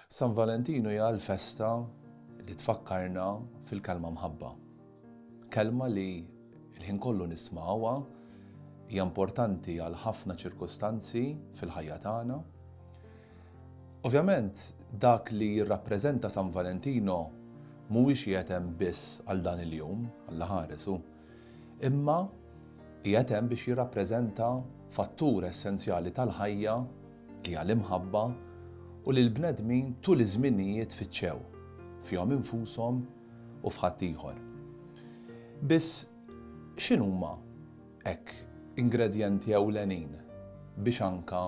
San Valentinu hija l-festa li tfakkarna fil-kelma mħabba. Kelma li l-ħin kollu nismgħuha, hija importanti għal ħafna ċirkustanzi fil-ħajja tagħna. Ovvjament dak li jirrappreżenta San Valentino mhuwiex qiegħed hemm biss għal dan il-jum, Alla ħares hu, imma qiegħed hemm biex jirrappreżenta fattur essenzjali tal-ħajja li hija l-imħabba u li l-bnedmin tul iż-żminijiet fittxew, fihom infushom u f'ħaddieħor. Biss, x'inhuma hekk ingredjenti ewlenin biex anke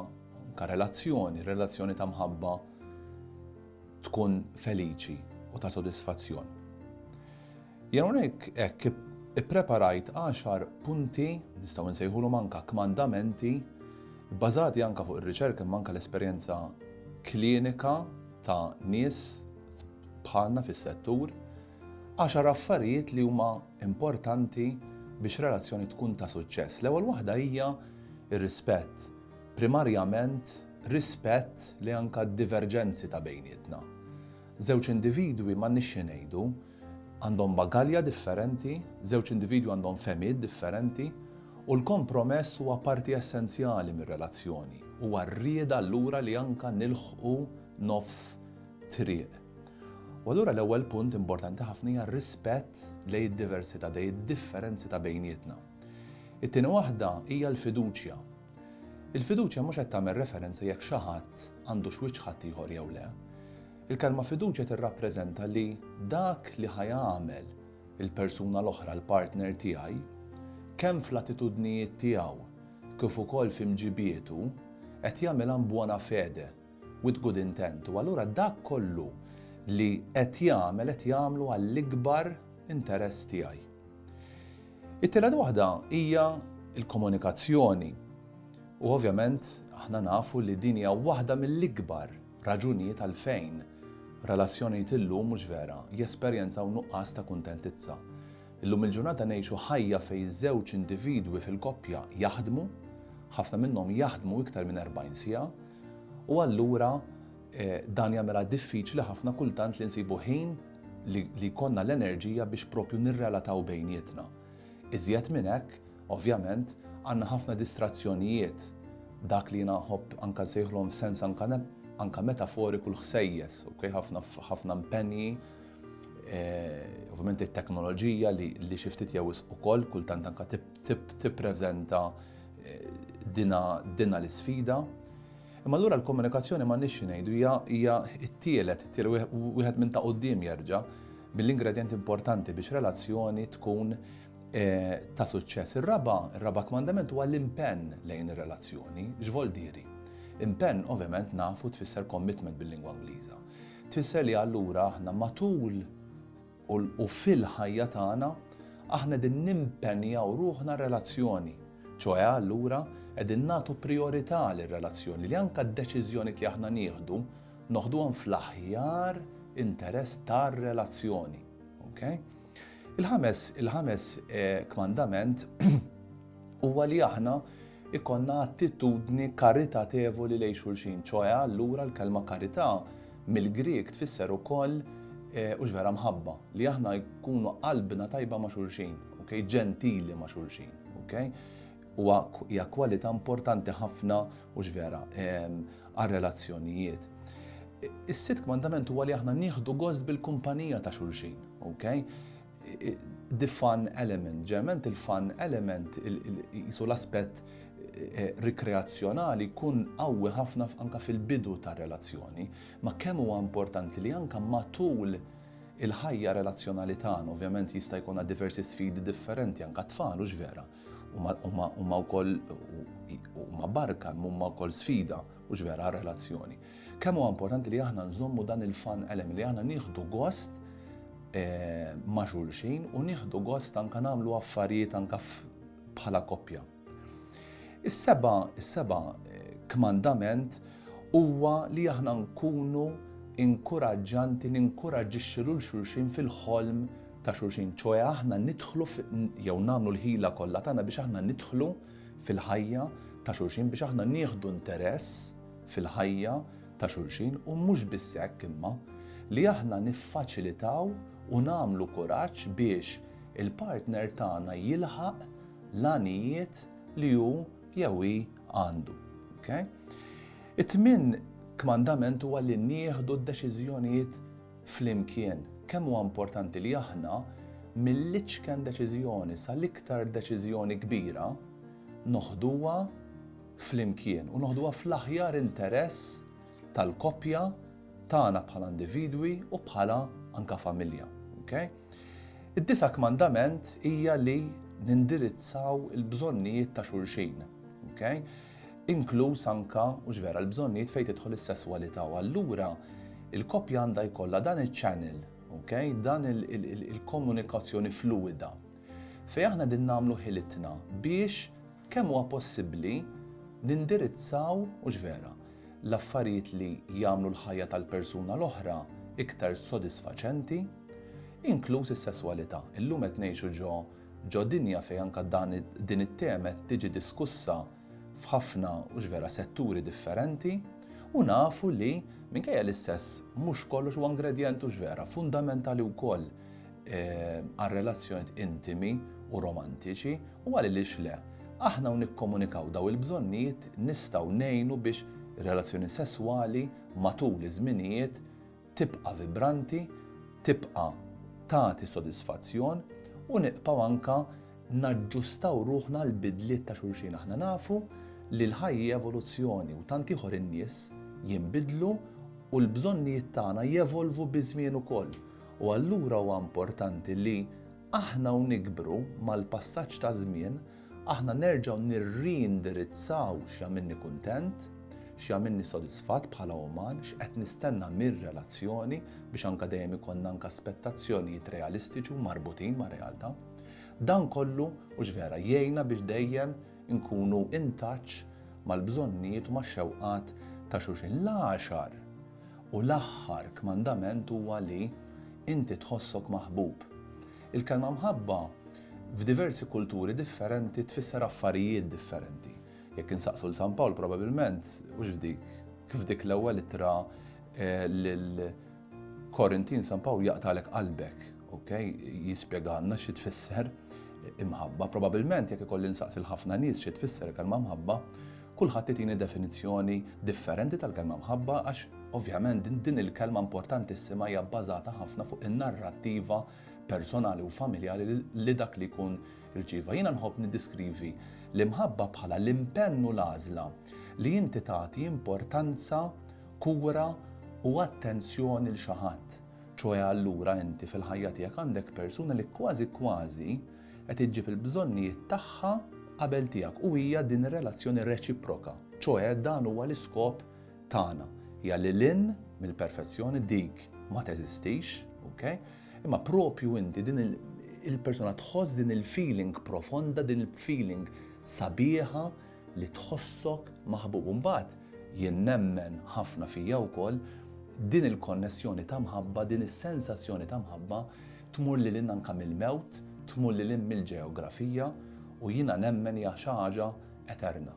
anke relazzjoni, relazzjoni ta' mħabba tkun feliċi u ta' sodisfazzjon? Jien hawnhekk hekk ippreparajt għaxar punti, nistgħu nsejħulhom anke kmandamenti, bbażati anke fuq ir-riċerka imma anke l-esperjenza klinika ta' nies bħalna fis-settur, għaxar affarijiet li huma importanti biex relazzjoni tkun ta' suċċess. L-ewwel waħda hija r-rispett. Primarjament rispett li anke d-diverġenzi ta' bejnietna. Żewġ individwi m'għandniex xi ngħidu, Għandhom bagalja differenti, żewġ individwi għandhom fehmiet differenti, u l-kompromess huwa parti essenzjali mir-relazzjoni. Huwa r-rieda allura li anke nilħqu nofs triq. U allura l-ewwel punt importanti ħafna hija r-rispett lejn id-diversità, dej id-differenzi ta' bejnietna. It-tieni waħda hija l-fiduċja. Il-fiduċja mhux qed tagħmel referenza jekk xi ħadd għandux wiċċ ħadd ieħor jew le. Il-kelma fiduċja tirrappreżenta li dak li ħa jagħmel il-persuna l-oħra l-partner tiegħi, kemm fl-attitudnijiet tiegħu kif ukoll fi mġibietu, qed jagħmilha in buona fede, with good intent, u allura dak kollu li qed jagħmel qed jagħmlu għall-ikbar interess tiegħi. It-tielet waħda hija l-komunikazzjoni. U ovvjament aħna nafu li din hija waħda mill-ikbar raġunijiet għalfejn relazzjonijiet illum mhux vera jesperjenzaw nuqqas ta' kuntentizza. Illum il-ġurnata ngħixu ħajja fejn żewġ individwi fil-koppja jaħdmu, ħafna minnhom jaħdmu iktar minn 40 siegħa, u allura eh, dan jagħmilha diffiċli ħafna kultant li nsibu ħin li jkollna l-enerġija biex propju nirrelataw bejnietna. Iżjed minn hekk, ovvjament, għandna ħafna distrazzjonijiet, dak li jiena nħobb anke nsejħlhom f'sens anke metaforiku l-ħsejjes, okay? ħafna ħafna impenji, eh, ovvjament it-teknoloġija li, li xi ftit jew ukoll kultant anke tippreżenta eh, dina, dina l-isfida. Imma allura l-komunikazzjoni ma nix ngħidu hija t-tielet, it-tielet wieħed minn ta' qudiem jerġa' mill-ingredjenti importanti biex relazzjoni tkun eh, ta' suċċess. Ir-raba, ir-raba kmandament huwa l-impenn lejn ir-relazzjoni, x'vol diri. Impenn ovvjament nafu tfisser commitment bil-lingwa Ingliża. Tfisser li allura aħna matul u fil-ħajja tagħna aħna din nimpenjaw ruħna relazzjoni. ċoħe allura qegħdin nagħtu priorità lir relazzjoni li anka d-deċiżjoni li aħna nieħdu Noħduhom fl-aħjar interess tar-relazzjoni. Okay? Il-ħames, il-ħames eh, kmandament huwa li aħna ikonna attitudni karitatevoli lejn xulxin, ċoħe allura l-kelma karità mill-Grieg tfisser ukoll eh, u vera mħabba li aħna jkunu qalbna tajba ma' xulxin, ok, ġentili ma' xulxin, ok. Huwa hija kwalità importanti ħafna u x'vera għar-relazzjonijiet. Is-sitt kmandament huwa li aħna nieħdu gost bil-kumpanija ta' xulxin, ok? The fun element, ġerment il-fun element, jisu l-aspett eh, rikreazzjonali kun qawwi ħafna anka fil-bidu ta' relazzjoni, ma kemm huwa importanti li anka matul il-ħajja relazzjonali tagħna, ovvjament jista' jkollna diversi sfidi differenti anka tfal u vera. Huma wkoll huma barka, huma wkoll sfida u vera relazzjoni. Kemm huwa importanti li aħna nżommu dan il-fan elem li aħna nieħdu gost eh, ma' xulxin u nieħdu gost anka nagħmlu affarijiet anka bħala koppja. Is-seba, is-seba eh, kmandament huwa li aħna nkunu inkuraġġanti, ninkuraġġixxi lil xulxin fil-ħolm ta' xulxin, ċoe aħna nidħlu jew nagħmlu l-ħila kollha tagħna biex aħna nidħlu fil-ħajja ta' xulxin biex aħna nieħdu interess fil-ħajja ta' xulxin u mhux biss hekk imma li aħna niffaċilitaw u nagħmlu kuraġġ biex il-partner tagħna jilħaq l-għanijiet li hu jew hi għandu. Okay? It-tmin kmandament huwa li nieħdu d-deċiżjonijiet flimkien, kemm huwa importanti li aħna mill-iċken deċiżjoni sal-iktar deċiżjoni kbira noħduha flimkien u noħduha fl-aħjar interess tal-koppja tagħna bħala individwi u bħala anka familja. Okay? Id-disa kmandament hija li nindirizzaw il-bżonnijiet ta' xulxin. Okay? inkluż anke, hux vera, l-bżonnijiet fejn tidħol is-sesswalità u allura l-koppja għandha jkollha dan iċ-channel, ok, dan il-komunikazzjoni fluwida fejn aħna qegħdin nagħmlu ħilitna biex kemm huwa possibbli nindirizzaw, hux vera, l-affarijiet li jagħmlu l-ħajja tal-persuna l-oħra iktar sodisfaċenti, inkluż is-sesswalità. Illum qed ngħixu ġo Ġo dinja fejn anke dan din it-tema qed tiġi diskussa f'ħafna hux vera setturi differenti u nafu li minkejja li s-sess mhux kollox huwa ingredjent hux vera fundamentali wkoll għar-relazzjonijiet intimi u romantiċi u għaliliex le. Aħna u nikkomunikaw daw il-bżonnijiet nistgħu ngħinu biex ir-relazzjoni sesswali matul iż-żminijiet tibqa' vibranti, tibqa' tagħti sodisfazzjon u nibqgħu anke naġġustaw ruħna għal bidliet ta' xulxin. Aħna nafu li l-ħajja evoluzzjoni u tant ieħor in-nies jinbidlu u l-bżonnijiet tagħna jevolvu biż-żmien ukoll. U allura huwa importanti li aħna u nikbru mal-passaġġ taż-żmien Aħna nerġgħu nirriindirizzaw x'jagħmilni kuntent, x'jagħmilni sodisfatt bħala uman, x'qed nistenna mir-relazzjoni biex anke dejjem ikollna anke aspettazzjonijiet realistiċi u marbutin mar-realtà. Dan kollu, hux vera, jgħinna biex dejjem inkunu in touch mal-bżonnijiet u max-xewqat ta' xulxin. L-għaxar u l-aħħar kmandament huwa li inti tħossok maħbub. Il-kelma mħabba f'diversi kulturi differenti tfisser affarijiet differenti. Jekk insaqsu l San Pawl probabilment mhux f'dik kif dik l-ewwel ittra eh, lil Korintin San Pawl jaqtalek qalbek, ok? Jispjega għandna xi tfisser imħabba. Probabilment jekk ikolli nsaqsi l-ħafna nies xi tfisser kelma mħabba, Kulħadd itini definizzjoni differenti tal-kelma mħabba għax ovvjament din il-kelma importantissima hija bbażata ħafna fuq in-narrattiva personali u familjali li dak li jkun irċieva. Jiena nħobb niddiskrivi l-imħabba bħala l-impenn u l-għażla li inti tagħti importanza, kura u attenzjoni lil xi ħadd. Ċoe allura inti fil-ħajja tiegħek għandek persuna li kważi kważi Qed iġġib il-bżonnijiet tagħha qabel tiegħek u hija din ir-relazzjoni reċiproka, ċoe dan huwa l-iskop tagħna. Hija lil hinn mill-perfezzjoni dik ma teżistix, ok? Imma propju inti din il-persuna tħoss din il-feeling profonda, din il-feeling sabiħa li tħossok maħbub. Mbagħad jien nemmen ħafna fija wkoll din il-konnessjoni ta' mħabba, din is-sensazzjoni ta' mħabba Tmur lil hinn anke mill-mewt, tmur lil hinn mill-ġeografija u jiena nemmen hija xi ħaġa eterna.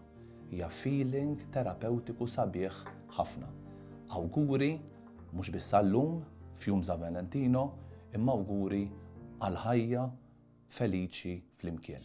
Hija feeling terapewtiku sabiħ ħafna. Awguri mhux biss għal-lum, f'jum San Valentino, imma awguri għal ħajja feliċi flimkien.